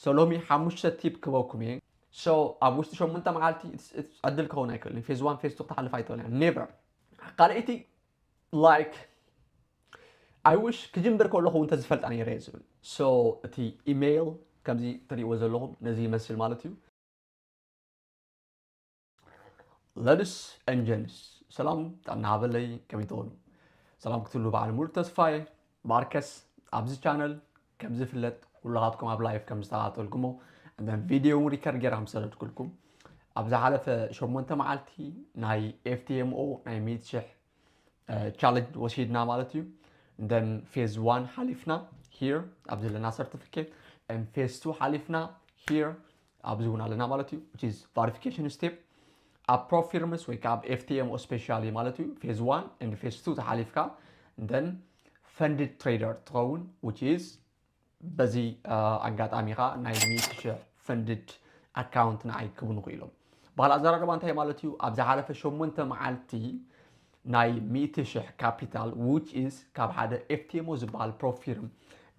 So ሎሚ ሓሙሽተ ቲፕ ክበኩም እየ so ኣብ ውሽጢ ሸሙንተ መዓልቲ ዕድል ክኸውን ኣይክእልን እዩ ፌዝ ዋን ፌዝ ቱ ክትሓልፍ ኣይትኽእልን እያ ኔቨር ካልኣይቲ ላይክ ኣይውሽ ክጅምር ከለኹ እውን ተዝፈልጣ ነይረ እየ ዝብል so እቲ ኢሜይል ከምዚ ትሪእዎ ዘለኹም ነዚ ይመስል ማለት እዩ ለድስ ን ጀንስ ሰላም ጥዕና ሃበለይ ከመይ ትኾኑ ሰላም ክትሉ በዓል ሙሉ ተስፋየ ማርከስ ኣብዚ ቻነል ከም ዝፍለጥ ኩላኻትኩም ኣብ ላይፍ ከም ዝተኸታተልኩሞ እንተን ቪድዮ እውን ሪከርድ ጌራ ምስ ሰደድኩልኩም ኣብ ዝሓለፈ ሸሞንተ መዓልቲ ናይ ኤፍቲኤምኦ ናይ ሚእቲ ሽሕ ቻለንጅ ወሲድና ማለት እዩ እንደን ፌዝ ዋን ሓሊፍና ሂር ኣብ ዘለና ሰርቲፊኬት ን ፌዝ ቱ ሓሊፍና ሂር ኣብዚ እውን ኣለና ማለት እዩ which is ቫሪፊኬሽን ስቴፕ ኣብ ፕሮፊርምስ ወይ ከዓ ኣብ ኤፍቲኤምኦ ስፔሻል እዩ ማለት እዩ ፌዝ ዋን ን ፌዝ ቱ ተሓሊፍካ ን ፈንድድ ትሬደር ትኸውን which is በዚ ኣጋጣሚ ከዓ ናይ ሚእቲ ሽሕ ፈንድድ ኣካውንት ንዓይ ክብኑ ክኢሎም ባህል ኣዘራርባ እንታይ ማለት እዩ ኣብ ዝሓለፈ ሸሞንተ መዓልቲ ናይ ሚእቲ ሽሕ ካፒታል which is ካብ ሓደ ኤፍቲኤምኦ ዝበሃል ፕሮፊርም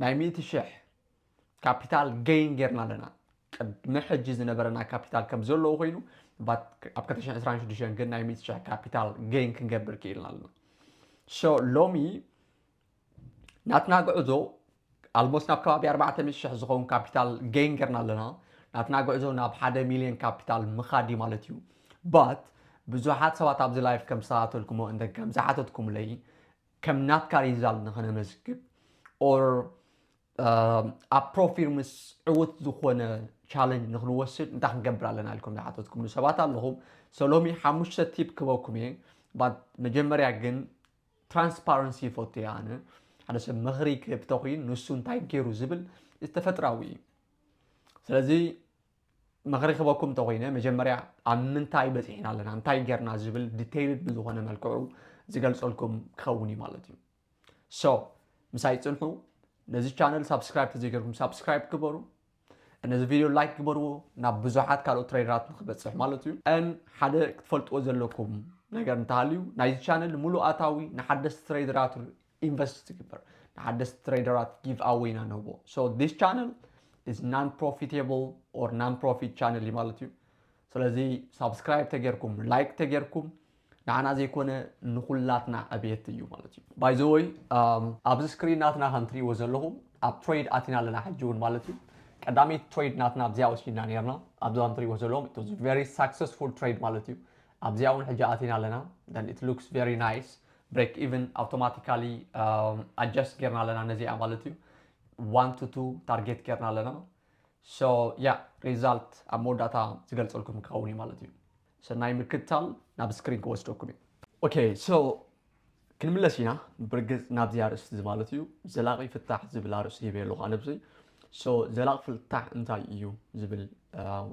ናይ ሚእቲ ሽሕ ካፒታል ገይን ጌርና ኣለና። ቅድሚ ሕጂ ዝነበረና ካፒታል ከም ዘለዎ ኮይኑ ኣብ 226 ግን ናይ 100 ሽሕ ካፒታል ገይን ክንገብር ክኢልና ኣለና ሶ ሎሚ ናትና ጉዕዞ ኣልሞስ ናብ ከባቢ 400 ሽሕ ዝኸውን ካፒታል ገይን ጌርና ኣለና ናትና ጉዕዞ ናብ 1 ሚሊዮን ካፒታል ምኻድ እዩ ማለት እዩ ባት ብዙሓት ሰባት ኣብዚ ላይፍ ከም ዝሰታተልኩሞ እንተ ከም ዝሓተትኩምለይ ከም ናትካ ሪዛልት ንኸነመዝግብ ኦር ኣብ ፕሮፊርምስ ዕውት ዝኾነ ቻለንጅ ንክንወስድ እንታይ ክንገብር ኣለና ኢልኩም ዝሓተትኩምሉ ሰባት ኣለኹም ሶ ሎሚ ሓሙሽተ ቲፕ ክበኩም እየ ባት መጀመርያ ግን ትራንስፓረንሲ ይፈቱ እየ ኣነ ሓደ ሰብ ምኽሪ ክህብ ተኽይን ንሱ እንታይ ገይሩ ዝብል እዚ ተፈጥራዊ እዩ ስለዚ ምኽሪ ክበኩም ተኮይነ መጀመርያ ኣብ ምንታይ በፂሕና ኣለና እንታይ ጌርና ዝብል ዲቴይልድ ብዝኾነ መልክዑ ዝገልፀልኩም ክኸውን እዩ ማለት እዩ ሶ ምሳይ ፅንሑ ነዚ ቻነል ሳብስክራይብ ተዘይገርኩም ሳብስክራይብ ግበሩ ነዚ ቪድዮ ላይክ ግበርዎ ናብ ብዙሓት ካልኦት ትሬደራት ንክበፅሕ ማለት እዩ ን ሓደ ክትፈልጥዎ ዘለኩም ነገር እንተሃልዩ ናይዚ ቻነል ሙሉእ ኣታዊ ንሓደስቲ ትሬደራት ኢንቨስት ትግበር ንሓደስቲ ትሬደራት ጊቭ ኣዌይ ኢና ንህቦ ሶ ዲስ ቻነል ኢዝ ናን ፕሮፊቴብል ኦር ናን ፕሮፊት ቻነል እዩ ማለት እዩ ስለዚ ሳብስክራይብ ተጌርኩም ላይክ ተጌርኩም ንዓና ዘይኮነ ንኹላትና ዕብየት እዩ ማለት እዩ ባይ ዘ ወይ ኣብዚ ስክሪን ናትና ከም ትሪእዎ ዘለኹም ኣብ ትሬድ ኣቲና ኣለና ሕጂ እውን ማለት እዩ ቀዳመይቲ ትሬድ ናትና ኣብዚኣ ወሲድና ነርና ኣብዚ ከም ትሪእዎ ዘለኹም ኢት ዋዝ ቨሪ ሳክሰስፉል ትሬድ ማለት እዩ ኣብዚኣ እውን ሕጂ ኣቲና ኣለና ን ኢት ሉክስ ቨሪ ናይስ ብሬክ ኢቨን ኣውቶማቲካሊ ኣጀስት ጌርና ኣለና ነዚኣ ማለት እዩ ዋን ቱ ቱ ታርጌት ጌርና ኣለና ሶ ያ ሪዛልት ኣብ መወዳእታ ዝገልፀልኩም ክኸውን እዩ ማለት እዩ ሰናይ ምክትታል ናብ ስክሪን ክወስደኩም እዩ። ኦኬ ሶ ክንምለስ ኢና ብርግጽ ናብዚ ኣርእስቲ እዚ ማለት እዩ ዘላቂ ፍታሕ ዝብል ኣርእስቲ ሂበ ኣለኹ ኣነ ብዚ ሶ ዘላቂ ፍታሕ እንታይ እዩ ዝብል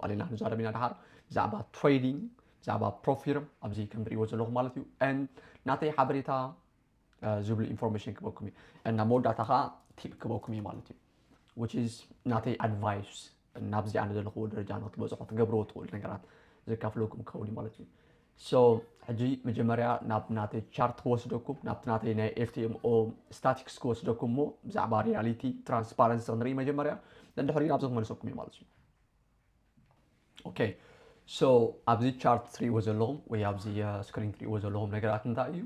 ኣሊና ክንዛረብ ኢና ድሓር ብዛዕባ ትሬዲንግ ብዛዕባ ፕሮፊርም ኣብዚ ከምትሪእዎ ዘለኹም ማለት እዩ ን ናተይ ሓበሬታ ዝብሉ ኢንፎርሜሽን ክበኩም እዩ እና መወዳእታ ከዓ ቲፕ ክበኩም እዩ ማለት እዩ which is ናተይ ኣድቫይስ ናብዚ ኣነ ዘለኹዎ ደረጃ ንክትበፅሑ ትገብርዎ ትኽእሉ ነገራት ዘካፍለኩም ክኸውን እዩ ማለት እዩ ሶ ሕጂ መጀመርያ ናብ ናተይ ቻርት ክወስደኩም ናብቲ ናተይ ናይ ኤፍቲኤምኦ ስታቲክስ ክወስደኩም እሞ ብዛዕባ ሪያሊቲ ትራንስፓረንሲ ክንርኢ መጀመርያ ንድሕሪኡ ናብዚ ክመልሰኩም እዩ ማለት እዩ ኦኬ ሶ ኣብዚ ቻርት ትሪእዎ ዘለኹም ወይ ኣብዚ ስክሪን ትሪእዎ ዘለኹም ነገራት እንታይ እዩ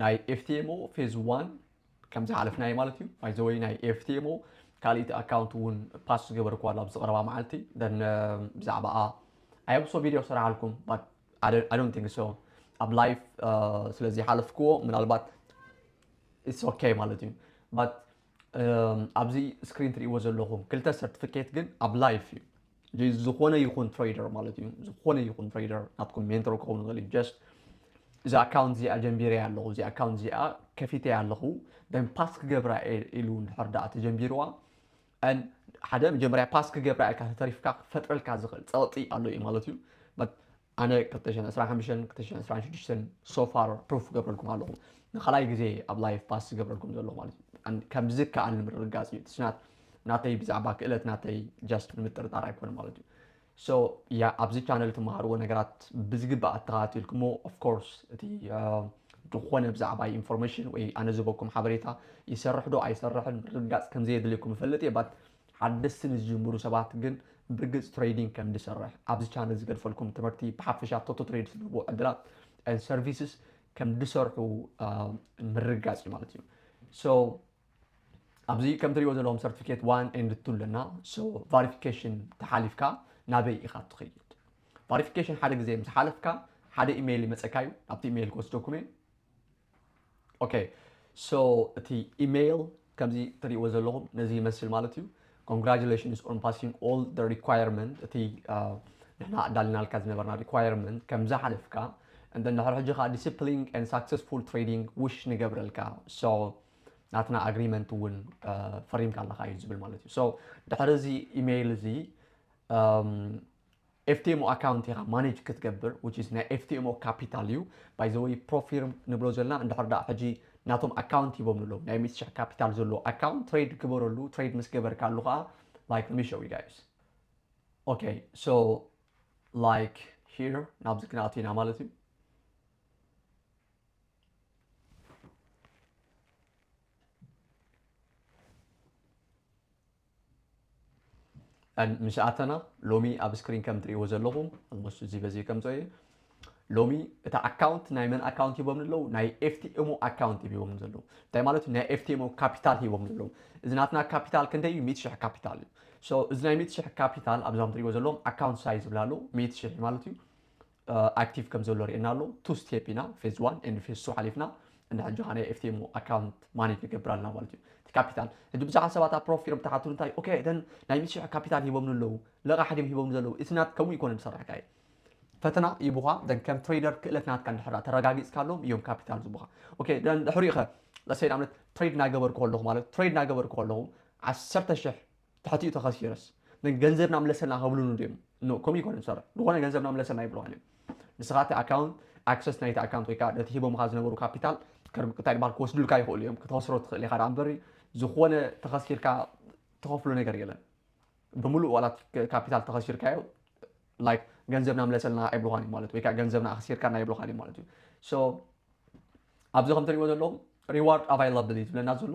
ናይ ኤፍቲኤምኦ ፌዝ ዋን ከም ዝሓለፍናዮ ማለት እዩ ባይዘወይ ናይ ኤፍቲኤምኦ ካልኢቲ ኣካውንት እውን ፓስ ዝገበርኩ ኣሎ ኣብዚ ቀረባ መዓልቲ ደን ብዛዕባኣ ኣየብሶ ቪድዮ ሰራሓልኩም ባት ኣዶን ቲንግ ሶ ኣብ ላይፍ ስለዚ ሓለፍክዎ ምናልባት ኢትስ ኦኬ ማለት እዩ ባት ኣብዚ ስክሪን ትሪእዎ ዘለኹም ክልተ ሰርቲፊኬት ግን ኣብ ላይፍ እዩ ዝኾነ ይኹን ትሬደር ማለት እዩ ዝኾነ ይኹን ትሬደር ናትኩም ሜንተር ክኸውን ይኽእል እዩ ጀስት እዚ ኣካውንት እዚኣ ጀንቢረ ኣለኹ እዚ ኣካውንት እዚኣ ከፊተ ኣለኹ ደን ፓስ ክገብራ ኢሉ እንድሕር ዳኣ ተጀንቢርዋ ን ሓደ መጀመርያ ፓስ ክገብራ ኢልካ ተተሪፍካ ክፈጥረልካ ዝኽእል ፀቕጢ ኣሎ እዩ ማለት እዩ ኣነ ክልተ ሽሕን ዕስራን ሓምሽተን ክልተ ሽሕን ዕስራን ሽዱሽተን so far proof ክገብረልኩም ኣለኹ ንካልኣይ ግዜ ኣብ live pass ዝገብረልኩም ዘለኹ ማለት እዩ and ከም ዝከኣል ንምርግጋጽ እዩ it's not ናተይ ብዛዕባ ክእለት ናተይ just ንምጥርጣር ኣይኮነን ማለት እዩ so ያ ኣብዚ ቻነል ትመሃርዎ ነገራት ብዝግባእ ኣተኸታቲልኩሞ of course እቲ uh, ዝኾነ ብዛዕባይ ኢንፎርሜሽን ወይ ኣነ ዝበኩም ሓበሬታ ይሰርሕ ዶ ኣይሰርሕን ምርግጋጽ ከምዘየድልየኩም ይፈልጥ እየ ባት ሓደስቲ ንዝጅምሩ ሰባት ግን ብርግጽ ትሬዲንግ ከም ድሰርሕ ኣብዚ ቻነል ዝገድፈልኩም ትምህርቲ ብሓፈሻ ቶቶ ትሬድ ዝህልዎ ዕድላት and services ከም ድሰርሑ ምርግጋጽ እዩ ማለት እዩ so ኣብዚ ከም ትሪእዎ ዘለዎም ሰርቲፊኬት ዋን ኤንድ ቱ ኣለና so verification ተሓሊፍካ ናበይ ኢኻ ትኸይድ ቫሪፊኬሽን ሓደ ግዜ ምስ ሓለፍካ ሓደ ኢሜይል ይመፀካ እዩ ናብቲ ኢሜይል ክወስደኩም እየ ኦኬ ሶ እቲ ኢመይል ከምዚ ትሪእዎ ዘለኹም ነዚ ይመስል ማለት እዩ ኮንግራጁሌሽንስ ኦን ፓሲንግ ኦል ደ ሪኳየርመንት እቲ ንሕና ኣዳሊናልካ ዝነበርና ሪኳየርመንት ከም ዝሓለፍካ እንደ ንድሕሪ ሕጂ ከዓ ዲስፕሊን ን ሳክሰስፉል ትሬዲንግ ውሽ ንገብረልካ ሶ ናትና ኣግሪመንት እውን ፈሪምካ ኣለካ እዩ ዝብል ማለት እዩ ድሕሪ እዚ ኢሜይል እዚ ኤፍቲኤሞ ኣካውንት ኢኻ ማኔጅ ክትገብር which is ናይ ኤፍቲኤሞ ካፒታል እዩ by the way ፕሮፊርም ንብሎ ዘለና እንድሕር ደኣ ሕጂ ናቶም ኣካውንት ሂቦም ኣለዉ ናይ ሚእቲ ሽሕ ካፒታል ዘለዎ ኣካውንት ትሬድ ግበረሉ ትሬድ ምስ ገበርካሉ ከኣ like let me show you guys okay so like here ናብዚ ክንኣቱ ኢና ማለት እዩ and ምስ ኣተና ሎሚ ኣብ ስክሪን ከም ትሪእዎ ዘለኹም ኦልሞስት እዚ በዚ ከምፀ እዩ ሎሚ እቲ ኣካውንት ናይ መን ኣካውንት ሂቦም ዘለዉ ናይ ኤፍቲኤሞ ኣካውንት ሂቦም ዘለዉ እንታይ ማለት ናይ ኤፍቲኤሞ ካፒታል ሂቦም ዘለዉ እዚ ናትና ካፒታል ክንደይ እዩ ሚእቲ ሽሕ ካፒታል እዩ እዚ ናይ ሚእቲ ሽሕ ካፒታል ኣብዛም ትሪእዎ ዘለዎም ኣካውንት ሳይዝ ዝብላ ኣለዉ ሚእቲ ሽሕ ማለት እዩ ኣክቲቭ ከም ዘሎ ርእየና ኣሎ ቱ ስቴፕ ኢና ፌዝ ዋን ኤንድ ፌዝ ቱ ሓሊፍና እና ሕጂ ከኣ ናይ ኤፍቲኤሙ ኣካውንት ማኔጅ ንገብር ኣለና ማለት እዩ እቲ ካፒታል ሕጂ ብዙሓት ሰባት ኣብ ፕሮፍ ፊርም ተሓትሉ እንታይ ኦኬ እተን ናይ ምስ ሽሕ ካፒታል ሂቦምኒ ኣለዉ ለቓሕ ድም ሂቦምኒ ዘለዉ ኢትስ ናት ከምኡ ኣይኮነን ዝሰርሕካ እዩ ፈተና ይቡኻ ደን ከም ትሬደር ክእለት ናትካ እንድሕራ ተረጋጊጽካሎም እዮም ካፒታል ዝቡኻ ኦኬ ደን ድሕሪኡ ኸ ለሰይ ንኣብነት ትሬድ ናገበርኩ ከለኹ ማለት ትሬድ ናገበርኩ ከለኹ ዓሰርተ ሽሕ ትሕቲኡ ተኸሲረስ ን ገንዘብና ምለሰልና ክብሉኑ ድዮም ን ከምኡ ኣይኮነን ዝሰርሕ ዝኾነ ገንዘብና ምለሰልና ኣይብሉኻን እዮም ንስኻ እቲ ኣካውንት ኣክሰስ ናይቲ ኣካውንት ወይ ከኣ ነቲ ሂቦምኻ ዝነበሩ ካፒታል እንታይ ድባሃል ክወስዱልካ ይኽእሉ እዮም ክትኸስሮ ትኽእል ኢኻ ደኣ እምበሪ ዝኾነ ተኸሲርካ ትኸፍሎ ነገር የለን ብምሉእ ዋላ ካፒታል ተኸሲርካዮ ላይክ ገንዘብና ምለሰልና ኣይብሉኻን እዩ ማለት ወይ ከዓ ገንዘብና ኣኽሲርካና ኣይብሉኻን እዩ ማለት እዩ ሶ ኣብዚ ከም ትሪእዎ ዘለኹም ሪዋርድ ኣቫይላብሊ ዝብለና ዘሎ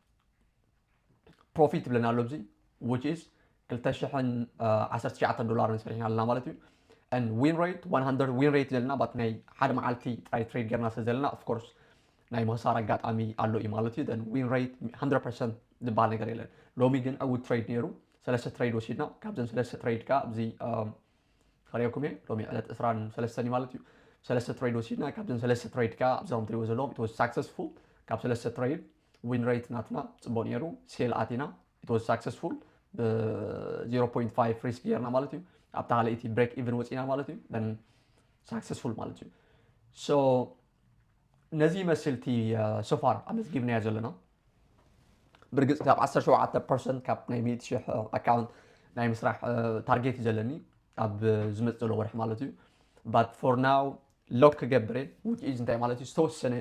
ፕሮፊት ይብለና ኣሎ ኣብዚ which is 219 ዶላር ሰሪሕና ኣለና ማለት እዩ and win rate 100 win rate ዘለና ባት ናይ ሓደ መዓልቲ ጥራይ ትሬድ ጌርና ስለ ዘለና of course ናይ ምኽሳር ኣጋጣሚ ኣሎ እዩ ማለት እዩ then win rate 100% ዝበሃል ነገር የለን ሎሚ ግን ዕውት ትሬድ ነይሩ ሰለስተ ትሬድ ወሲድና ካብዘን ሰለስተ ትሬድ ከዓ ኣብዚ ከሪኦኩም እየ ሎሚ ዕለት እስራን ሰለስተን እዩ ማለት እዩ ሰለስተ ትሬድ ወሲድና ካብዘን ሰለስተ ትሬድ ከዓ ኣብዞም ትሪዎ ዘለዎም ተወስ ሳክሰስፉል ካብ ሰለስተ ትሬድ ዊን ሬት ናትና ፅቡቅ ነይሩ ሴል ኣቲና ኢት ዋዝ ሳክሰስፉል ብ 0.5 ሪስክ ጌርና ማለት እዩ ኣብታ ካልኣይቲ ብሬክ ኢቨን ወፂና ማለት እዩ ን ሳክሰስፉል ማለት እዩ ሶ ነዚ ይመስል እቲ ሶፋር ኣመዝጊብናዮ ዘለና ብርግፅ ካብ 17 ፐርሰንት ካብ ናይ 100 ሽሕ ኣካውንት ናይ ምስራሕ ታርጌት እዩ ዘለኒ ኣብ ዝመፅ ዘሎ ወርሒ ማለት እዩ ባት ፎር ናው ሎክ ክገብር እየ ውግእ ኢዝ እንታይ ማለት እዩ ዝተወሰነ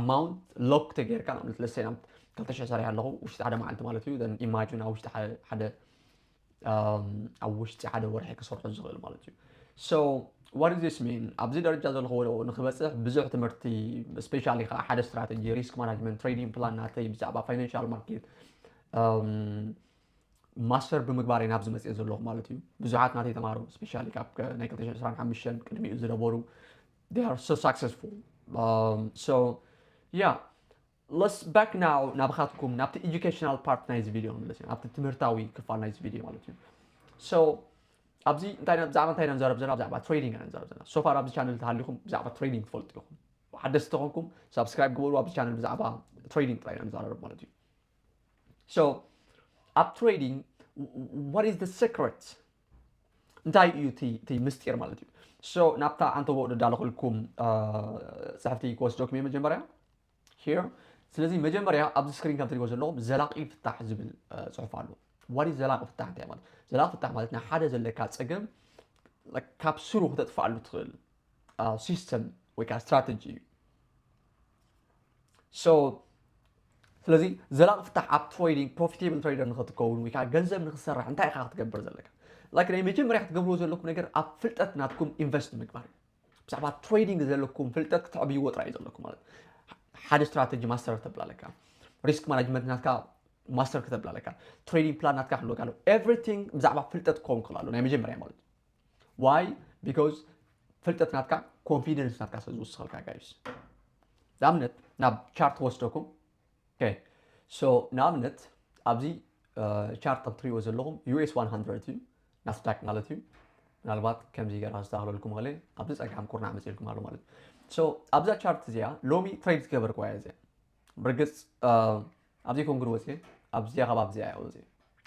ኣማውንት ሎክ ተገይርካ ንኣብነት ለሰይ ናብ ክልተ ሽሕ ሰሪሐ ኣለኹ ውሽጢ ሓደ መዓልቲ ማለት እዩ ን ኢማጅን ኣብ ውሽጢ ሓደ- ሓደ ኣም፣ ኣብ ውሽጢ ሓደ ወርሒ ክሰርሖ ዝኽእል ማለት እዩ ሶ ዋት ኢዝ ዚስ ሚን ኣብዚ ደረጃ ዘለኹዎ ንክበፅሕ ብዙሕ ትምህርቲ ስፔሻሊ ከዓ ሓደ ስትራተጂ ሪስክ ማናጅመንት ትሬዲንግ ፕላን ናተይ ብዛዕባ ፋይናንሻል ማርኬት ኣም፣ ማስተር ብምግባር እየ ናብዚ መፅኤ ዘለኹ ማለት እዩ ብዙሓት ናተይ ተማሃሮ ስፔሻሊ ካብ ናይ 225 ቅድሚኡ ዝነበሩ they are so successful um, so yeah let's back now ናብኻትኩም ናብቲ ኤጁኬሽናል ፓርት ናይዚ ቪድዮ ንመለስ ኢና ናብቲ ትምህርታዊ ክፋል ናይዚ ቪድዮ ማለት እዩ so ኣብዚ እንታይ ብዛዕባ እንታይ ኢና ንዛረብ ዘለና ብዛዕባ ትሬዲንግ ኢና ንዛረብ ዘለና ሶፋር ኣብዚ ቻነል ተሃሊኹም ብዛዕባ ትሬዲንግ ትፈልጡ ኢኹም ሓደስቲ ተኾንኩም ሳብስክራይብ ግበሩ ኣብዚ ቻነል ብዛዕባ ትሬዲንግ ጥራይ ኢና ንዛረብ ማለት እዩ ኣብ ትሬዲንግ ዋት ኢዝ ሰክረት እንታይ እዩ እቲ ምስጢር ማለት እዩ ናብታ ኣንተቦ ደዳለኹልኩም ፅሕፍቲ ክወስደኩም እየ መጀመርያ ሄር ስለዚ መጀመርያ ኣብዚ ስክሪን ከም ትሪእዎ ዘለኹም ዘላቂ ፍታሕ ዝብል ፅሑፍ ኣሎ ዋት ኢዝ ዘላቂ ፍታሕ እንታይ ማለት ዘላቂ ፍታሕ ማለት ናይ ሓደ ዘለካ ፀገም ካብ ስሩ ክተጥፍኣሉ ትኽእል ሲስተም ወይ ከዓ ስትራተጂ እዩ ስለዚ ዘላቂ ፍታሕ ኣብ ትሬዲንግ ፕሮፊቴብል ትሬደር ንክትከውን ወይ ከዓ ገንዘብ ንክትሰርሕ እንታይ ኢኻ ክትገብር ዘለካ ላይክ ናይ መጀመርያ ክትገብርዎ ዘለኩም ነገር ኣብ ፍልጠት ናትኩም ኢንቨስት ምግባር እዩ ብዛዕባ ትሬዲንግ ዘለኩም ፍልጠት ክትዕብይዎ ጥራይ እዩ ዘለኩም ማለት ሓደ ስትራተጂ ማስተር ተብላ ኣለካ ሪስክ ማናጅመንት ናትካ ማስተር ክተብላ ኣለካ ትሬዲንግ ፕላን ናትካ ክህልወካ ኣለዎ ኤቭሪቲንግ ብዛዕባ ፍልጠት ክኸውን ክኽእል ኣሎ ናይ መጀመርያ ማለት እዩ ዋይ ቢካዝ ፍልጠት ናትካ ኮንፊደንስ ናትካ ስለ ዝውስኸልካ ጋይስ ንኣብነት ናብ ቻርት ወስደኩም ሶ ንኣብነት ኣብዚ ቻርት ከም ትሪእዎ ዘለኹም ዩኤስ 100 እዩ ናስዳክ ማለት እዩ ምናልባት ከምዚ ገራ ዝስተሃለልኩም ኸለ ኣብዚ ፀጋም ኩርናዕ መፅልኩም ኣሎ ማለት እዩ ኣብዛ ቻርት እዚኣ ሎሚ ትሬድ ዝገበርኩዋ እያ እዚኣ ብርግፅ ኣብዚ ኮንግሪ ወፅየ ኣብዚኣ ካብ ኣብዚኣ እያ ወፅየ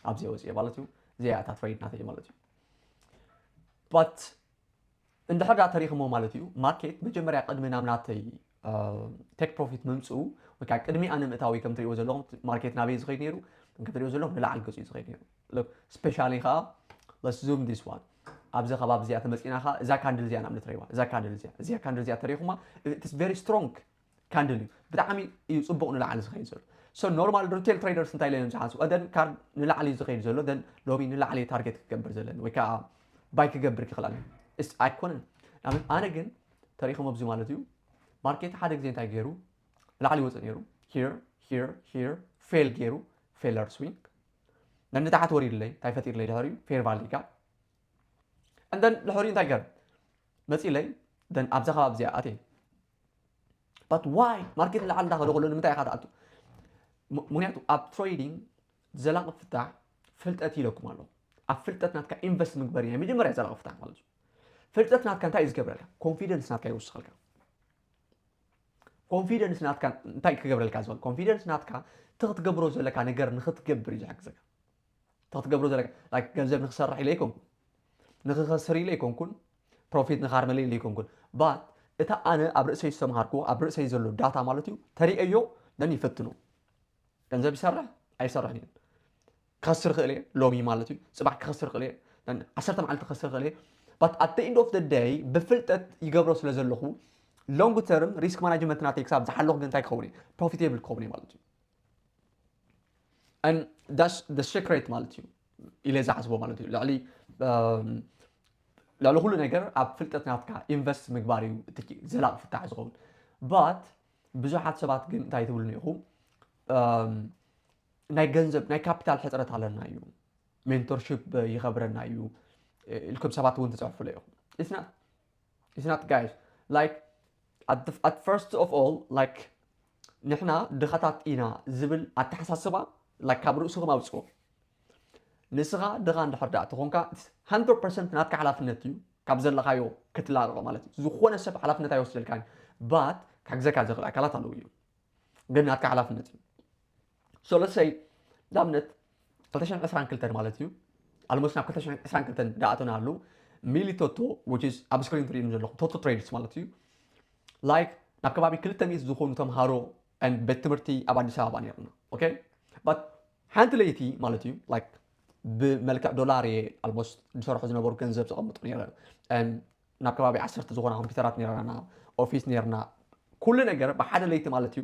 ኣብዚኣ ወፅየ ማለት እዩ እዚኣ እታ ትሬድ ናተይ ማለት እዩ ባት እንድሕር ዳ ተሪኽሞ ማለት እዩ ማርኬት መጀመርያ ቅድሚ ናብ ናተይ ቴክ ፕሮፊት ምምፅኡ ወይ ከዓ ቅድሚ ኣነ ምእታዊ ከም ትሪእዎ ዘለኹም ማርኬት ናበይ ዝኸይድ ነይሩ ከም ትሪእዎ ዘለኹም ንላዕሊ ገፁ እዩ ዝኸይድ ነይሩ ስፔሻሊ ከዓ ለስ ዙም ዲስ ዋን ኣብዚ ከባቢ እዚኣ ተመፂና ከዓ እዛ ካንድል እዚኣ ንኣብነት ረይዋ እዛ ካንድል እዚኣ እዚኣ ካንድል እዚኣ ተሪኹማ ኢትስ ቨሪ ስትሮንግ ካንድል እዩ ብጣዕሚ እዩ ጽቡቅ ንላዕሊ ዝኸይድ ዘሎ so ኖርማል ሪቴል ትሬደርስ እንታይ ኢሎም ዝሓስቡ ቀደም ካርድ ንላዕሊ እዩ ዝኸይድ ዘሎ then ሎሚ ንላዕሊ እዩ ታርጌት ክገብር ዘለኒ ወይ ከዓ ባይ ክገብር ክኽእል ኣለኒ እስ ኣይኮነን ንኣብነት ኣነ ግን ተሪኢኹም ኣብዚ ማለት እዩ ማርኬት ሓደ ግዜ እንታይ ገይሩ ላዕሊ ይወፅእ ነይሩ ሂር ሂር ሂር ፌል ገይሩ ፌለር ስዊንግ ነን ንታሕት ወሪድለይ እንታይ ፈጢርለይ ድሕሪኡ ፌር ቫሊ ጋር እንደን ድሕሪኡ እንታይ ገር መፂለይ ደን ኣብዛ ከባቢ እዚኣ ኣትየ ባት ዋይ ማርኬት ንላዕሊ እንዳኸደ ከሎ ንምንታይ ኢኻ ትኣቱ? ም- ምክንያቱ ኣብ ትሬዲንግ ዘላቂ ፍታሕ ፍልጠት ኢለኩም ኣለኹ ኣብ ፍልጠት ናትካ ኢንቨስት ምግበር ናይ መጀመርያ ዘላቂ ፍታሕ ማለት እዩ ፍልጠት ናትካ እንታይ እዩ ዝገብረልካ ኮንፊደንስ ናትካ ይውስኸልካ ኮንፊደንስ ናትካ እንታይ ክገብረልካ ዝኽእል ኮንፊደንስ ናትካ እቲ ክትገብሮ ዘለካ ነገር ንክትገብር እዩ ዝሕግዘካ እቲ ክትገብሮ ዘለካ ላይክ ገንዘብ ንክሰርሕ ኢለ ኣይኮንኩን ንክኸስር ኢለ ኣይኮንኩን ፕሮፊት ንካርመለ ኢለ ኣይኮንኩን ባት እታ ኣነ ኣብ ርእሰይ ዝተምሃርኩዎ ኣብ ርእሰይ ዘሎ ዳታ ማለት እዩ ተሪኤዮ ደን ይፈትኖ ገንዘብ ይሰርሕ ኣይሰርሕን እዩ ክኸስር ክእል እየ ሎሚ ማለት እዩ ፅባሕ ክኸስር ክእል እየ ዓሰርተ መዓልቲ ክኸስር ክእል እየ ባት ኣት ኢንድ ኦፍ ደይ ብፍልጠት ይገብሮ ስለ ዘለኹ ሎንግ ተርም ሪስክ ማናጅመንት ናተይ ክሳብ ዝሓለኹ ግን እንታይ ክኸውን እየ ፕሮፊቴብል ክኸውን እየ ማለት እዩ and that's the secret ማለት እዩ ኢለ ዝሓስቦ ማለት እዩ ልዕሊ ልዕሊ ኩሉ ነገር ኣብ ፍልጠት ናትካ ኢንቨስት ምግባር እዩ እቲ ዘላቂ ፍታሕ ዝኸውን ባት ብዙሓት ሰባት ግን እንታይ ትብሉ ኢኹም ናይ ገንዘብ ናይ ካፒታል ሕፅረት ኣለና እዩ ሜንቶርሽፕ ይኸብረና እዩ ኢልኩም ሰባት እውን ትፅሕፉለ ኢኹም ኢትናት ጋይስ ላይክ ኣት ፈርስት ኦፍ ኦል ላይክ ንሕና ድኻታት ኢና ዝብል ኣተሓሳስባ like ካብ ርእስኹም ኣውጽዎ። ንስኻ ድኻ እንድሕር ድኣ ተኾንካ it's 100% ናትካ ሓላፍነት እዩ ካብ ዘለኻዮ ክትላቐቕ ማለት እዩ። ዝኾነ ሰብ ሓላፍነት ኣይወስደልካን but ክሕግዘካ ዝኽእል ኣካላት ኣለዉ እዮም ግን ናትካ ሓላፍነት እዩ። ሰለሰይ ንኣብነት 222 ማለት እዩ ኣልሞስ ናብ 222 ዳኣተና ኣሉ ሚሊ ቶቶ ኣብ ስክሪን ትሪእም ዘለኹም ቶቶ ትሬድስ ማለት እዩ ላይክ ናብ ከባቢ 200 ዝኾኑ ተምሃሮ ቤት ትምህርቲ ኣብ ኣዲስ ኣበባ ነርና ኦኬ ሓንቲ ለይቲ ማለት እዩ ላይክ ብመልክዕ ዶላር እየ ኣልሞስ ዝሰርሑ ዝነበሩ ገንዘብ ዘቐምጡ ነረ ናብ ከባቢ ዓሰርተ ዝኾና ኮምፒውተራት ነርና ኦፊስ ነርና ኩሉ ነገር ብሓደ ለይቲ ማለት እዩ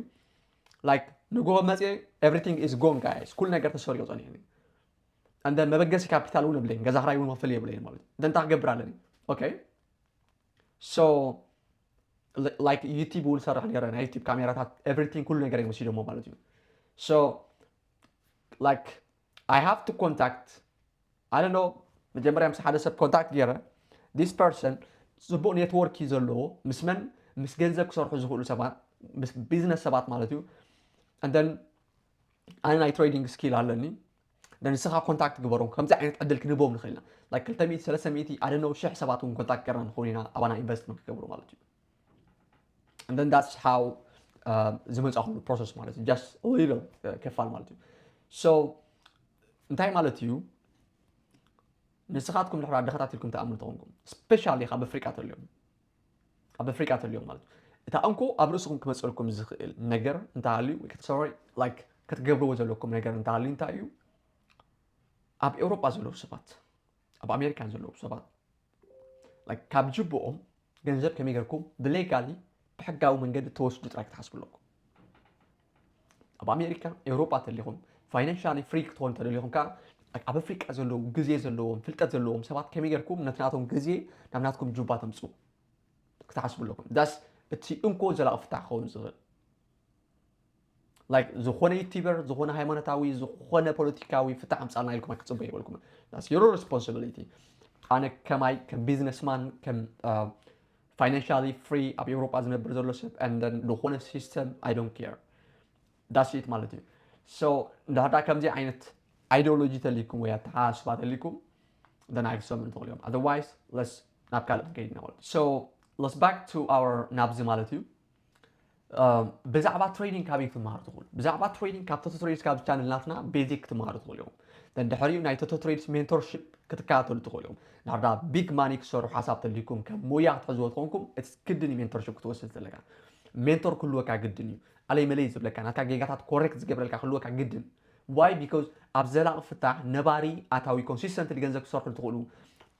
ላይክ ንግሆ መፅየ ኤቭሪቲንግ ኢዝ ጎን ጋይስ ኩሉ ነገር ተሰሪቑ ፀኒሑ እዩ እንደ መበገሲ ካፒታል እውን የብለይን ገዛ ክራይ እውን ክፍል የብለይን ማለት እዩ እንተ እንታይ ክገብር ኣለኒ ኦኬ ሶ ላይክ ዩቲብ እውን ሰርሕ ነረ ናይ ዩቲብ ካሜራታት ኤቭሪቲንግ ኩሉ ነገር እዮም ወሲዶሞ ማለት እዩ ሶ ላይክ ኣይ ሃቭ ቱ ኮንታክት ኣይ ዶንት ኖው መጀመርያ ምስ ሓደ ሰብ ኮንታክት ገይረ ዲስ ፐርሰን ፅቡቕ ኔትዎርክ እዩ ዘለዎ ምስ መን ምስ ገንዘብ ክሰርሑ ዝኽእሉ ሰባት ምስ ቢዝነስ ሰባት ማለት እዩ እንደን ኣነ ናይ ትሬዲንግ ስኪል ኣለኒ ንስኻ ኮንታክት ግበሮም ከምዚ ዓይነት ዕድል ክንህቦም ንኽእል ኢና ላይክ ክልተ ሚእቲ ሰለስተ ሚእቲ ኣደነው ሽሕ ሰባት እውን ኮንታክት ገርና ንኸውን ኢና ኣባና ኢንቨስት ንክገብሩ ማለት እዩ and then that's how uh, ዝመፃኹሉ ፕሮሰስ ማለት እዩ ጃስት ሊሎ ክፋል ማለት እዩ ሶ እንታይ ማለት እዩ ንስኻትኩም ድሕራ ድኻታት ኢልኩም ተኣምኑ ተኾንኩም ስፔሻሊ ካብ ኣፍሪቃ ተልዮም ኣብ ኣፍሪቃ ተልዮም ማለት እዩ እታ እንኮ ኣብ ርእስኹም ክመፅልኩም ዝኽእል ነገር እንተሃልዩ ወይ ከተሰሪ ላይክ ክትገብርዎ ዘለኩም ነገር እንተሃልዩ እንታይ እዩ ኣብ ኤውሮጳ ዘለዉ ሰባት ኣብ ኣሜሪካ ዘለዉ ሰባት like ካብ ጅብኦም ገንዘብ ከመይ ጌርኩም ብሌጋሊ ብሕጋዊ መንገዲ ተወስዱ ጥራይ ክትሓስቡ ኣለኩም ኣብ ኣሜሪካ ኤውሮጳ ተሊኹም ፋይናንሻሊ ፍሪ ክትኾኑ ተደሊኹም ከዓ ኣብ ኣፍሪቃ ዘለዉ ግዜ ዘለዎም ፍልጠት ዘለዎም ሰባት ከመይ ጌርኩም ነቲ ናቶም ግዜ ናብ ናትኩም ጁባ ተምፁ ክትሓስቡ ኣለኩም ዳስ እቲ እንኮ ዘላቂ ፍታሕ ክኸውን ዝኽእል like ዝኾነ ዩቲበር ዝኾነ ሃይማኖታዊ ዝኾነ ፖለቲካዊ ፍታሕ ኣምፃልና ኢልኩም ኣይክፅበ ይበልኩም ስ ዩሮ ሬስፖንሲቢሊቲ ኣነ ከማይ ከም ቢዝነስማን ከም ፋይናንሻሊ ፍሪ ኣብ ኤውሮጳ ዝነብር ዘሎ ሰብ ንደን ዝኾነ ሲስተም ኣይ ዶን ኬር ዳስት ማለት እዩ ሶ እንዳዳ ከምዚ ዓይነት ኣይዲዮሎጂ ተሊኩም ወይ ኣተሓሳስባ ተሊኩም ደን ኣይክሰሙ ንትኽእል እዮም ኣዘርዋይስ ለስ ናብ ካልእ ከይድና ማለት ሶ ለስ ባክ ቱ ኣወር ናብዚ ማለት እዩ ብዛዕባ ትሬዲንግ ካበይ ክትመሃሩ ትኽእሉ ብዛዕባ ትሬዲንግ ካብ ቶቶ ትሬድስ ካብ ቻነል ናትና ቤዚክ ክትመሃሩ ትኽእሉ እዮም ተንድሕሪኡ ናይ ቶቶ ትሬድስ ሜንቶርሽፕ ክትከታተሉ ትኽእሉ እዮም ናብዳ ቢግ ማኒ ክሰሩ ሓሳብ ተልይኩም ከም ሙያ ክትሕዝዎ ትኾንኩም እቲ ግድን እዩ ሜንቶርሽፕ ክትወስድ ዘለካ ሜንቶር ክህልወካ ግድን እዩ ኣለይ መለይ ዝብለካ ናትካ ጌጋታት ኮሬክት ዝገብረልካ ክህልወካ ግድን ዋይ ቢካዝ ኣብ ዘላቂ ፍታሕ ነባሪ ኣታዊ ኮንሲስተንትሊ ገንዘብ ክሰርሑ ትኽእሉ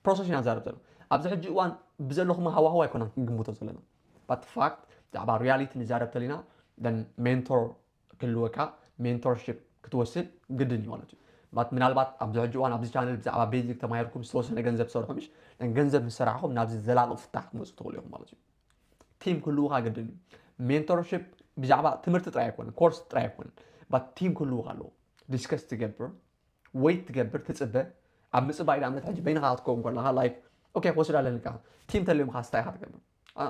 ፕሮሰስ ኢና ንዛረብ ዘሎ ኣብዚ ሕጂ እዋን ብዘለኹም ሃዋህው ኣይኮናን ክንግምቶ ዘለና ባት ን ፋክት ብዛዕባ ርያሊቲ ንዛረብ ተሊና then ሜንቶር ክህልወካ ሜንቶር ሽፕ ክትወስድ ግድን እዩ ማለት እዩ ባት ምናልባት ኣብዚ ሕጂ እዋን ኣብዚ ቻነል ብዛዕባ ቤዚክ ተማሂርኩም ዝተወሰነ ገንዘብ ትሰርሑ ምሽ then ገንዘብ ምስ ሰራሕኹም ናብዚ ዘላቂ ፍታሕ ክትመጹ ትኽእሉ ኢኹም ማለት እዩ ቲም ክህልውኻ ግድን እዩ ሜንቶር ሽፕ ብዛዕባ ትምህርቲ ጥራይ ኣይኮነን ኮርስ ጥራይ ኣይኮነን ባት ቲም ክህልውኻ ኣለዎ ዲስከስ ትገብር ወይት ትገብር ትጽበ ኣብ ምጽባይ ንኣብነት ሕጂ በይንኻ ክትከውን ከለኻ ላይክ ኦኬ ክወስድ ኣለልካ ቲም ተልዩምኻ ስታይ ኢኻ ትገብር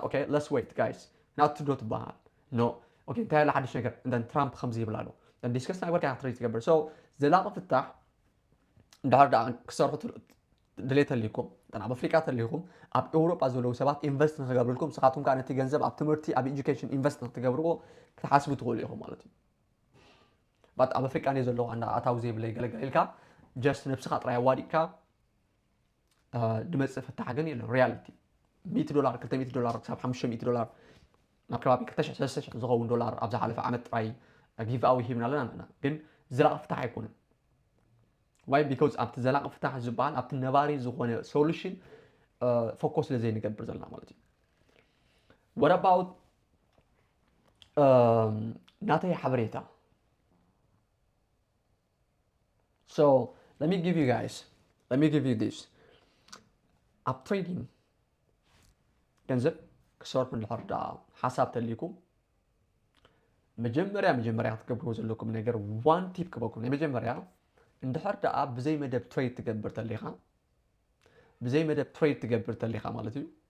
ኦኬ ለስ ወይት ጋይስ ናቱ ዶ ትበሃል ኖ ኦኬ እንታይ ኣሎ ሓድሽ ነገር እንተን ትራምፕ ከምዚ ይብል ኣሎ ዲስከስ ናይ ወርካ ክትርኢ ትገብር ሶ ዘላቒ ፍታሕ እንድሕር ደኣ ክሰርሑ ድሌት ተልይኩም እተን ኣብ ኣፍሪቃ ተልይኹም ኣብ ኤውሮጳ ዘለዉ ሰባት ኢንቨስት ንክገብርልኩም ንስኻትኩም ከዓ ነቲ ገንዘብ ኣብ ትምህርቲ ኣብ ኤጁኬሽን ኢንቨስት ንክትገብርዎ ክትሓስቡ ትኽእሉ ኢኹም ማለት እዩ but ኣብ ኣፍሪቃ እንድየ ዘለኩ ኣንዳ ኣታዊ ዘይብለይ ገለ ገለ ኢልካ just ነብስካ ጥራይ ኣዋዲቅካ ድመጽእ ፍታሕ ግን የለን ሪያሊቲ ሚእቲ ዶላር ክልተ ሚእቲ ዶላር ክሳብ ሓሙሽተ ሚእቲ ዶላር ናብ ከባቢ ክልተ ሽሕ ሰለስተ ሽሕ ዝኸውን ዶላር ኣብ ዝሓለፈ ዓመት ጥራይ ጊቭኣዊ ሂብና ኣለና ኣለና ግን ዘላቂ ፍታሕ ኣይኮነን ዋይ ቢኮዝ ኣብቲ ዘላቂ ፍታሕ ዝበሃል ኣብቲ ነባሪ ዝኾነ ሶሉሽን ፎኮስ ስለ ዘይንገብር ዘለና ማለት እዩ ወረባውት ናተይ ሓበሬታ So let me give you guys, let me give you this. ኣብ ትሬዲንግ ገንዘብ ክሰርሑ እንድሕር ደኣ ሓሳብ ተልይኩም መጀመርያ መጀመርያ ክትገብርዎ ዘለኩም ነገር ዋን ቲፕ ክበኩም ናይ መጀመርያ እንድሕር ደኣ ብዘይ መደብ ትሬድ ትገብር ተሊኻ ብዘይ መደብ ትሬድ ትገብር ተሊኻ ማለት እዩ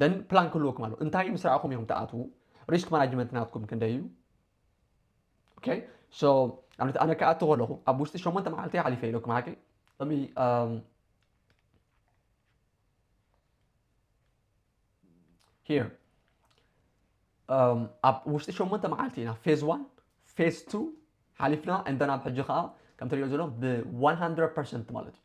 ደን ፕላን ክህልወኩም ኣለዎ እንታይ ምስ ረኣኹም ኢኹም ትኣትዉ ሪስክ ማናጅመንት ናትኩም ክንደይ እዩ ኦኬ ሶ ኣብነት ኣነ ክኣቱ ከለኹ ኣብ ውሽጢ ሸሞንተ መዓልቲ ሓሊፈ ኢለኩም ሓቂ እሚ ሂር ኣብ ውሽጢ ሸሞንተ መዓልቲ ኢና ፌዝ ዋን ፌዝ ቱ ሓሊፍና እንደን ኣብ ሕጂ ከዓ ከምቲ ሪኦ ዘሎ ብ100 ፐርሰንት ማለት እዩ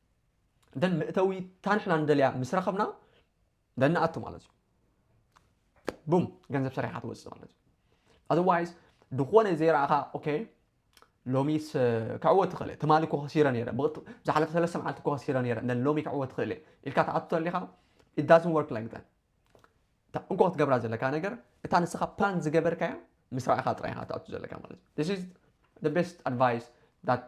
ደን መእተዊ እታ ንሕና ንደልያ ምስ ረኸብና ደን ንኣቱ ማለት እዩ ቡም ገንዘብ ሰሪሕካ ትወፅእ ማለት እዩ ኣዘዋይስ ዝኾነ ዘይረኣኻ ኦኬ ሎሚስ ክዕወት ትኽእል እየ ትማሊ እኮ ከሲረ ነይረ ዝሓለፈ ሰለስተ መዓልቲ እኮ ከሲረ ነይረ እነ ሎሚ ክዕወት ትኽእል እየ ኢልካ ትኣቱ ተሊኻ ኢት ዳዝን ወርክ ላይክ ዳት እታ እንኮ ክትገብራ ዘለካ ነገር እታ ንስኻ ፕላን ዝገበርካያ ምስ ረኣኻ ጥራይ ኢኻ ትኣቱ ዘለካ ማለት እዩ ስ ቤስት ኣድቫይስ ዳት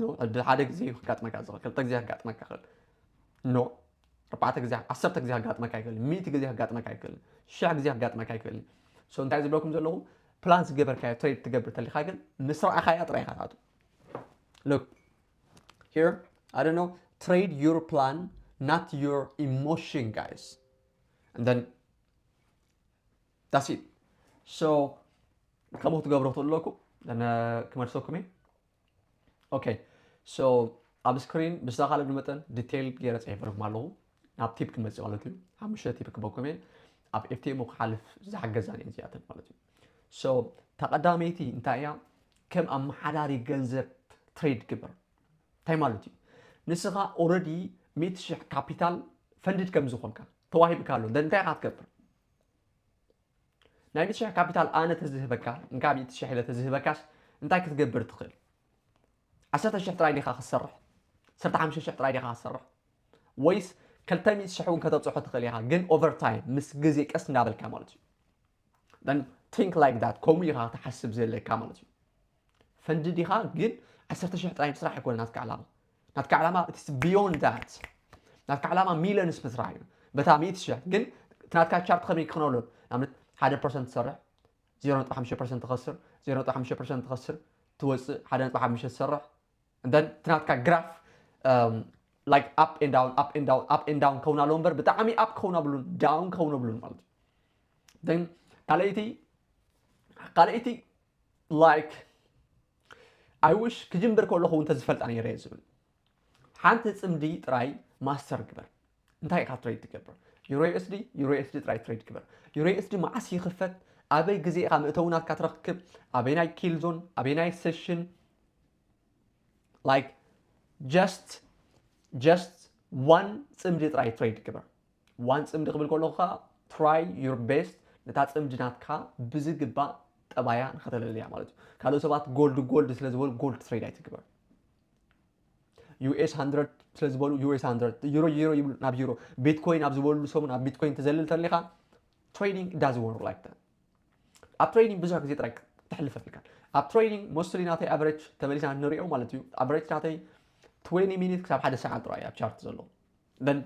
ኖ ዕድል ሓደ ግዜ እዩ ከጋጥመካ ዝኽእል ክልተ ግዜ ከጋጥመካ ይኽእል ኖ ኣርባዕተ ግዜ ዓሰርተ ግዜ ከጋጥመካ ይኽእል ሚእቲ ግዜ ከጋጥመካ ይኽእል ሽሕ ግዜ ከጋጥመካ ይኽእል ሶ እንታይ ዝብለኩም ዘለኹ ፕላን ዝገበርካዮ ትሬድ ትገብር ተሊኻ ግን ምስ ረኣኻያ ጥራይ ኢኻ ትኣቱ ሎክ ሂር ኣይ ዶንት ኖ ትሬድ ዩር ፕላን ናት ዩር ኢሞሽን ጋይስ ን ዳስ ሶ ከምኡ ትገብሮ ትለኩ ክመልሰኩም እየ ኦኬ ሶ ኣብ ስክሪን ብዝተኻለኒ መጠን ዲቴይል ገይረ ፅሒፈልኩም ኣለኹ ናብ ቲፕ ክመፅእ ማለት እዩ ሓሙሽተ ቲፕ ክበኩም እየ ኣብ ኤፍቲኤሞ ክሓልፍ ዝሓገዛን እየን እዚኣተን ማለት እዩ ሶ እታ ቀዳመይቲ እንታይ እያ ከም ኣመሓዳሪ ገንዘብ ትሬድ ግበር እንታይ ማለት እዩ ንስኻ ኦረዲ ሚእቲ ሽሕ ካፒታል ፈንድድ ከም ዝኾንካ ተዋሂብካ ኣሎ እንታይ ኢኻ ትገብር ናይ ሚእቲ ሽሕ ካፒታል ኣነ ተዝህበካ እንካ ሚእቲ ሽሕ ኢለ ተዝህበካስ እንታይ ክትገብር ትኽእል ዓሰርተ ሽሕ ጥራይ ዲኻ ክትሰርሕ ዓሰርተ ሓሙሽተ ሽሕ ጥራይ ዲኻ ክትሰርሕ ወይስ ክልተ ሚእቲ ሽሕ እውን ከተብጽሖ ትኽእል ኢኻ ግን ኦቨር ታይም ምስ ግዜ ቀስ እንዳበልካ ማለት እዩ then think like that ከምኡ ኢኻ ክትሓስብ ዘለካ ማለት እዩ ፈንዲ ዲኻ ግን ዓሰርተ ሽሕ ጥራይ ምስራሕ ኣይኮነን ናትካ ዕላማ ናትካ ዕላማ ኢትስ ቢዮንድ ዳት ናትካ ዕላማ ሚሊዮንስ ምስራሕ እዩ በታ ሚእቲ ሽሕ ግን እቲ ናትካ ቻርት ከመይ ክኾነሉ ንኣብነት ሓደ ፐርሰንት ትሰርሕ ዜሮ ነጥቢ ሓሙሽተ ፐርሰንት ትኸስር ዜሮ ነጥቢ ሓሙሽተ ፐርሰንት ትኸስር ትወፅእ ሓደ ነጥቢ ሓሙሽተ ትሰርሕ እንደን እቲ ናትካ ግራፍ ላይክ ኣፕ ኤን ዳውን ኣፕ ኤን ዳውን ኣፕ ኤን ዳውን ከውን ኣለዎ እምበር ብጣዕሚ ኣፕ ከውን ኣብሉን ዳውን ከውን ኣብሉን ማለት እዩ ካልኣይቲ ካልኣይቲ like I wish ክጅምር ከለኹ እውን ተዝፈልጣ ነይረ እየ ዝብል ሓንቲ ፅምዲ ጥራይ ማስተር ግበር እንታይ ኢኻ ትሬድ ትገብር ዩሮ ኤስዲ ዩሮ ኤስዲ ጥራይ ትሬድ ግበር ዩሮ ኤስዲ መዓስ ይኽፈት ኣበይ ግዜ ኢኻ መእተዊ ናትካ ትረክብ ኣበይ ናይ ኪል ዞን ኣበይ ናይ ሴሽን ላይክ ጀስት ጀስት ዋን ፅምዲ ጥራይ ትሬድ ግበር ዋን ጽምዲ ክብል ከለኹ ከኣ try your best ነታ ጽምዲ ናትካ ብዝግባእ ጠባያ ንኸተለልያ ማለት እዩ ካልኦት ሰባት ጎልድ ጎልድ ስለ ዝበሉ ጎልድ ትሬድ ኣይትግበር ዩኤስ 100 ስለ ዝበሉ ዩኤስ 100 ዩሮ ዩሮ ይብሉ ናብ ዩሮ ቢትኮይን ኣብ ዝበሉ ሰሙን ኣብ ቢትኮይን ተዘልል ተሊኻ ትሬዲንግ ዳዝ ወርክ ላይክ ዳት ኣብ ትሬዲንግ ብዙሕ ግዜ ጥራይ ተሕልፈት ኢልካ ኣብ ትሬዲንግ ሞስትሊ ናተይ ኣቨሬጅ ተመሊስና ንሪኦ ማለት እዩ ኣቨሬጅ ናተይ 20 ሚኒት ክሳብ ሓደ ሰዓት ጥራይ ኣብ ቻርት ዘሎ ደን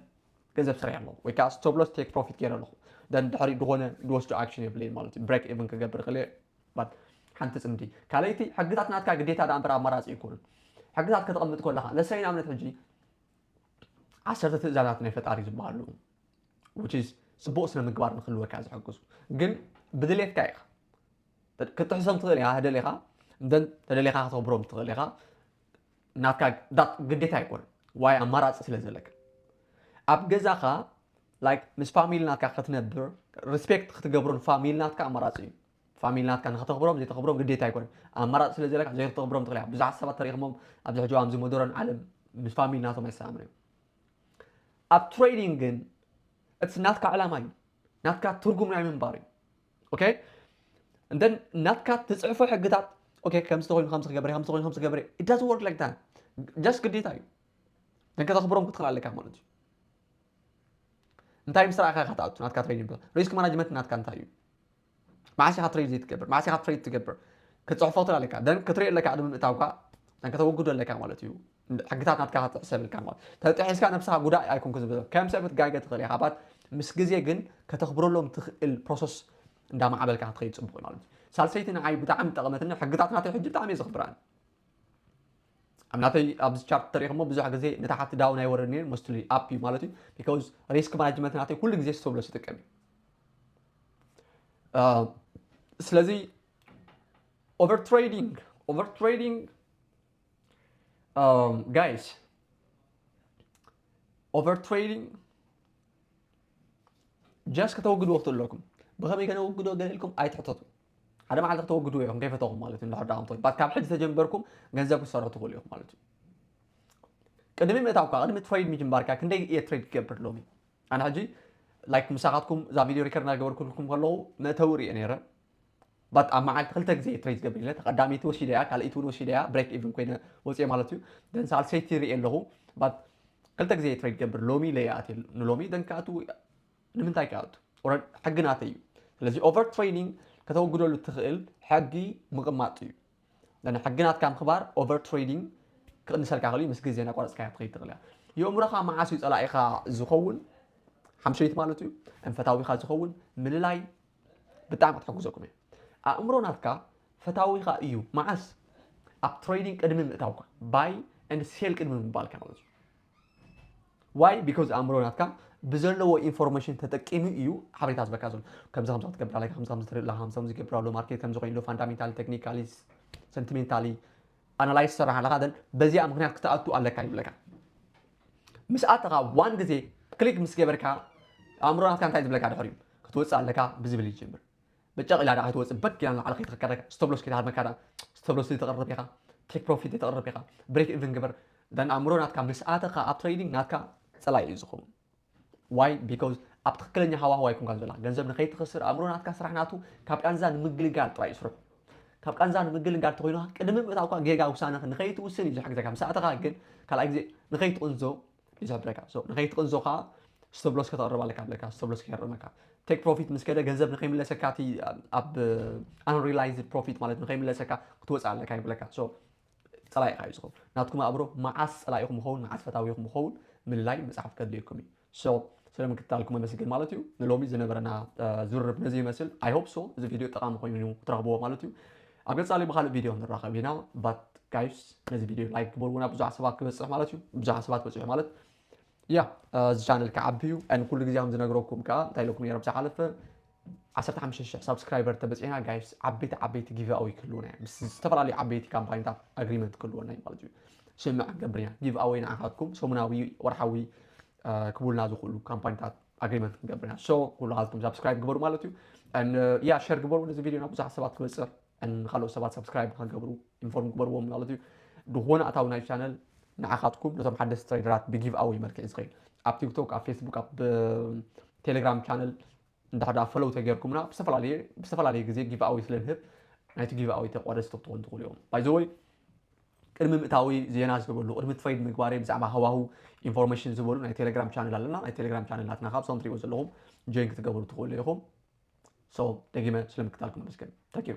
ገንዘብ ሰሪሐ ኣለኹ ወይ ከዓ ስቶብ ሎስ ቴክ ፕሮፊት ገይረ ኣለኹ ደን ድሕሪ ዝኾነ ዝወስዶ ኣክሽን የብለይን ማለት እዩ ብሬክ ኢቭን ክገብር ይኽእል እየ ባት ሓንቲ ፅምዲ ካልኣይቲ ሕግታት ናትካ ግዴታ ዳኣ እምበር ኣማራፂ ኣይኮኑን ሕግታት ከተቐምጥ ከለኻ ለሰይ ንኣብነት ሕጂ ዓሰርተ ትእዛዛት ናይ ፈጣሪ ዝበሃሉ which is ፅቡቕ ስነ ምግባር ንክህልወካ ዝሕግዙ ግን ብድሌትካ ኢኻ ክትጥሕሶም ትኽእል ኢኻ ተደሊኻ እንተን ተደሊኻ ከተኽብሮም ትኽእል ኢኻ ናትካ ግዴታ ኣይኮነን ዋይ ኣማራጺ ስለ ዘለካ ኣብ ገዛኻ ላይክ ምስ ፋሚሊ ናትካ ክትነብር ሪስፔክት ክትገብሮ ንፋሚሊ ናትካ ኣማራፂ እዩ ፋሚሊ ናትካ ንክተኽብሮም ዘይተኽብሮም ግዴታ ኣይኮነን ኣማራፂ ስለ ዘለካ ዘይክተኽብሮም ትኽእል ብዙሓት ሰባት ተሪኽሞም ኣብዚ ሕጂ ኣብዚ ሞደረን ዓለም ምስ ፋሚሊ ናቶም ኣይሰላምን እዮም ኣብ ትሬዲንግ ግን እቲ ናትካ ዕላማ እዩ ናትካ ትርጉም ናይ ምንባር እዩ ኦከይ and ናትካ ትፅሕፎ ሕግታት ኦከይ ከምዚ ተኮይኑ ከምዚ ክገብር ከምዚ ተኮይኑ ከምዚ ክገብር it doesn't work like that just ግዴታ እዩ ግን ከተኽብሮም ክትኽእል ኣለካ ማለት እዩ እንታይ ምስ ረኣኻ ኢኻ ትኣቱ ናትካ ትሬኒንግ ፕላን ሪስክ ማናጅመንት ናትካ እንታይ እዩ መዓስ ኢኻ ትሬድ ዘይትገብር መዓስ ኢኻ ትሬድ ትገብር ክትፅሕፎ ትኽእል ኣለካ ደን ክትሪኦ ኣለካ ቅድሚ ምእታውካ ከተወግዶ ኣለካ ማለት እዩ ሕግታት ናትካ ክትሕሰብ ኢልካ ማለት እዩ። ተጣሒስካ ነብስኻ ጉዳይ ኣይኮንኩን ዝብል ከም ሰብ ክትጋገ ትኽእል ኢኻ ባት ምስ ግዜ ግን ከተኽብረሎም ትኽእል ፕሮሰስ እንዳማዕበልካ ክትኸይድ ጽቡቕ እዩ ማለት እዩ። ሳልሰይቲ ንዓይ ብጣዕሚ ዝጠቐመትኒ ሕግታት ናተይ ሕጂ ብጣዕሚ እየ ዘኽብረን። ኣብ ናተይ ኣብዚ ቻርት ተሪኢኹሞ ብዙሕ ግዜ ንታሕቲ ዳውን ኣይወርድን እየ ሞስትሊ ኣፕ እዩ ማለት እዩ ቢኮዝ ሪስክ ማናጅመንት ናተይ ኩሉ ግዜ ስተብሎ ዝጥቀም እዩ ስለዚ ኦቨር ትሬዲንግ ኦቨር ትሬዲንግ ጋይስ ኦቨር ትሬዲንግ ጀስ ከተወግድዎ ክትል ኣለኩም ብኸመይ ከነወግዶ ገለ ኢልኩም ኣይትሕተቱ ሓደ መዓልቲ ከተወግድዎ ኢኹም ከይፈተኹም ማለት እዩ እንድሕር ዳኣ እንተኮይኑ ባት ካብ ሕጂ ተጀምበርኩም ገንዘብ ክትሰርሑ ትኽእሉ ኢኹም ማለት እዩ ቅድሚ ምእታውካ ቅድሚ ትሬድ ምጅምባርካ ክንደይ እየ ትሬድ ክገብር ሎሚ ኣነ ሕጂ ላይክ ምሳኻትኩም እዛ ቪድዮ ሪከርድ እናገበርኩልኩም ከለኹ መእተዊ ሪኦ ነይረ ባት ኣብ መዓልቲ ክልተ ግዜ እየ ትሬት ገቢረ ተቀዳመይቲ ወሲደያ ካልኣይቲ ውን ወሲደያ ብሬክ ኢቭን ኮይነ ወፅየ ማለት እዩ ደን ሳልሰይቲ ይሪኢ ኣለኩ ባት ክልተ ግዜ እየ ትሬድ ገብር ሎሚ ኢለ ይኣትየ ንሎሚ ደን ክኣቱ ንምንታይ ክኣቱ ኦረ ሕጊ ናተይ እዩ ስለዚ ኦቨር ትሬዲንግ ከተወግደሉ ትኽእል ሕጊ ምቕማጥ እዩ ደን ሕጊ ናትካ ምኽባር ኦቨር ትሬዲንግ ክቕንሰልካ ክእል ምስ ግዜ ናቋረፅካያ ትኸይድ ትኽእል እያ የእምሮኻ መዓስ እዩ ፀላኢኻ ዝኸውን ሓምሸይቲ ማለት እዩ እንፈታዊኻ ዝኸውን ምልላይ ብጣዕሚ ክትሕግዘኩም እያ ኣእምሮ ናትካ ፈታዊኻ እዩ መዓስ ኣብ ትሬዲንግ ቅድሚ ምእታውካ ባይ ን ሴል ቅድሚ ምባልካ ማለት እዩ ዋይ ቢኮዝ ኣእምሮ ናትካ ብዘለዎ ኢንፎርሜሽን ተጠቂሙ እዩ ሓበሬታ ዝበካ ዘሎ ከምዚ ከምዚ ክትገብር ኣለካ ከምዚ ከምዚ ትርኢ ኣለካ ከምዚ ከምዚ ይገብር ኣሎ ማርኬት ከምዚ ኮይኑ ፋንዳሜንታሊ ቴክኒካሊ ሰንቲሜንታሊ ኣናላይዝ ትሰርሕ ኣለካ ደን በዚኣ ምክንያት ክትኣቱ ኣለካ ይብለካ ምስ ኣተኻ ዋን ግዜ ክሊክ ምስ ገበርካ ኣእምሮ ናትካ እንታይ ዝብለካ ድሕር እዩ ክትወጽእ ኣለካ ብዝብል ይጅምር በጨቕ ኢላ ድኣ ከይትወጽእ በግ ኢላ ንላዕሊ ከይትኸከረካ ስተብሎስ ከይትሃርመካ ድኣ ስተብሎስ ተቕርብ ኢኻ ቴክ ፕሮፊት ዘይተቕርብ ኢኻ ብሬክ ኢቭን ግበር ደን ኣእምሮ ናትካ ምስ ኣተኻ ኣብ ትሬዲንግ ናትካ ጸላኢ እዩ ዝኸውን Why? Because ኣብ ትኽክለኛ ሃዋህው ኣይኮንካን ዘላ። ገንዘብ ንኸይትኽስር ኣእምሮ ናትካ ስራሕ ናቱ ካብ ቃንዛ ንምግልጋል ጥራይ እዩ ስርሑ። ካብ ቃንዛ ንምግልጋል እንተኾይኑ ቅድሚ ምእታውካ ጌጋ ውሳነ ንኸይትውስን እዩ ዝሕግዘካ። ምስ ኣተኻ ግን ካልኣይ ግዜ ንኸይትቕንዞ እዩ ዝሕብረካ። So ንኸይትቕንዞ ከኣ stop loss ከተቕርብ ኣለካ ብለካ stop loss ከየርመካ። Take profit ምስ ከደ ገንዘብ ንኸይምለሰካ እቲ ኣብ unrealized profit ማለት ንኸይምለሰካ ክትወጽእ ኣለካ ይብለካ። So ጸላኢ ኢኻ እዩ ዝኸውን። ናትኩም ኣእምሮ መዓስ ጸላኢኹም ይኸውን መዓስ ፈታዊኹም ይኸውን ምልላይ ምጽሓፍ ከድልየኩም እዩ። So ስለ ምክትታልኩም ኣመስግን ማለት እዩ። ንሎሚ ዝነበረና ዝርርብ ነዚ ይመስል። I hope so እዚ ቪድዮ ጠቓሚ ኮይኑ ትረኽብዎ ማለት እዩ። ኣብ ቀጻሊ ብኻልእ ቪድዮ ንራኸብ ኢና but guys ነዚ ቪድዮ like ግበርዎ ናብ ብዙሓት ሰባት ክበጽሕ ማለት እዩ። ብዙሓት ሰባት በጺሑ ማለት ያእ እዚ ቻነል ክዓቢ እዩ and ኩሉ ግዜ ከም ዝነግረኩም ከኣ እንታይ ኢለኩም ነይረ ኣብ ዝሓለፈ ዓሰርተ ሓሙሽተ ሽሕ ሳብስክራይበር ተበጺሕና ጋይስ ዓበይቲ ዓበይቲ ጊቭኣወይ ክህልውና እዩ ምስ ዝተፈላለዩ ዓበይቲ ካምፓኒታት ኣግሪመንት ክህልወና እዩ ማለት እዩ ስምምዕ ክንገብር ኢና ጊቭኣወይ ንዓኻትኩም ሰሙናዊ ወርሓዊ ክቡልና ዝኽእሉ ካምፓኒታት ኣግሪመንት ክንገብር ኢና ሶ ኩላኻትኩም ሳብስክራይብ ግበሩ ማለት እዩ ያ ሸር ግበሩ ነዚ ቪድዮ ናብ ብዙሓት ሰባት ክበጽሕ ን ካልኦት ሰባት ሳብስክራይብ ንኸገብሩ ኢንፎርም ግበርዎም ማለት እዩ ድኾነ ኣታዊ ናይ ቻነል ንዓኻትኩም ነቶም ሓደስቲ ትሬደራት ብጊቭ ኣወይ መልክዕ ዝኸይድ ኣብ ቲክቶክ ኣብ ፌስቡክ ኣብ ቴሌግራም ቻነል እንድሕር ደኣ ፈለው ተጌርኩምና ብዝተፈላለየ ብዝተፈላለየ ግዜ ጊቭ ኣወይ ስለ ንህብ ናይቲ ጊቭ ኣወይ ተቋደስቲ ክትኾኑ ትኽእሉ እዮም ባይዘወይ ቅድሚ ምእታዊ ዜና ዝገበሉ ቅድሚ ትሬድ ምግባረይ ብዛዕባ ሃዋህው ኢንፎርሜሽን ዝበሉ ናይ ቴሌግራም ቻነል ኣለና ናይ ቴሌግራም ቻነል ናትና ካብ ሶም ትሪእዎ ዘለኹም ጆይን ክትገብሩ ትኽእሉ ኢኹም ሶ ደጊመ ስለምክታልኩም ኣመስግን ታንኪዩ